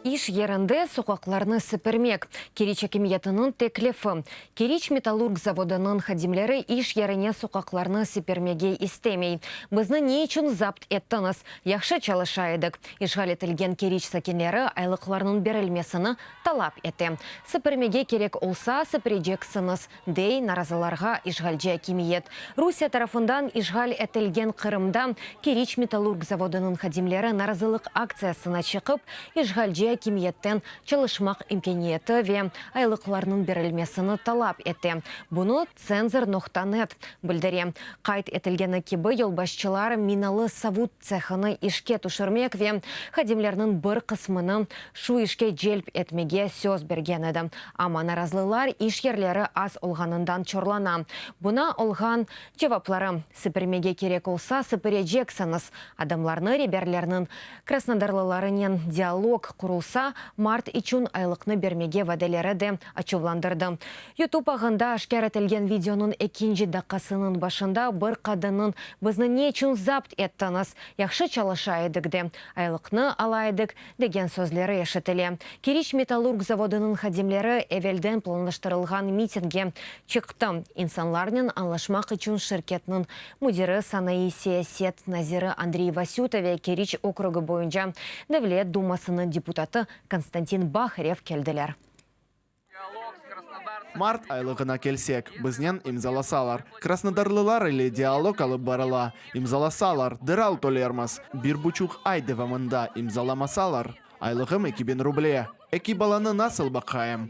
İş yerinde soqaqlarnı sipirmek, Keriç akimiyetiniñ teklifi. Keriç metallurg zavodınıñ hadimleri iş yerine soqaqlarnı sipirmege istemey. Bizni ne içün zapt ettiñiz? Yahşı çalışa edik. İşğal etilgen Keriç sakinleri aylıqlarnıñ berilmesini talap ete. Sipirmege kerek olsa, sipireceksiñiz, dey narazılarğa işğalci akimiyet. Rusiye tarafından işğal etilgen Qırımda Keriç metallurg zavodınıñ hadimleri narazılıq aktsiyasına çıqıp, işğalci akimiyetten çalışmaq imkâniyeti ve aylıqlarnıñ berilmesini talap ete. Bunı Cenzor nokta net bildire. Qayd etilgeni kibi, yolbaşçılar minalı savut. tsehini işke tüşürmek ve hadimlerniñ bir qısmını şu işke celp etmege söz bergen edi, amma narazlılar iş yerleri az olğanından çorlana. Buna olğan cevapları, Sipirmege kerek olsa, sipireceksiñiz. Adamlarnı reberlerniñ krasnodarlılarınen dialog qurulsa, mart içün aylıqnı bermege vadeleri de açuvlandırdı. Yutub ağında aşkâr etilgen videonıñ ekinci daqqasınıñ başında bir qadınnıñ Bizni ne içün zapt ettiñiz? Yahşı çalışa edik de, aylıqnı ala edik, degen sözleri eşitile. Keriç metallurg zavodınıñ hadimleri evelden planlaştırılğan mitinge çıqtı, insanlarnen añlaşmaq içün şirketniñ müdiri, sanaiy siyaset naziri Andrey Vasüta ve Keriç okrugı boyunca Devlet dumasınıñ deputatı Konstantin Baharev keldiler. Mart aylığına kelsek, biznen imzalasalar, krasnodarlılar ile dialog alıp barıla, imzalasalar, deral tölermiz, bir buçuq ay devamında imzalamasalar, aylığım eki biñ ruble, eki balanı nasıl baqayım?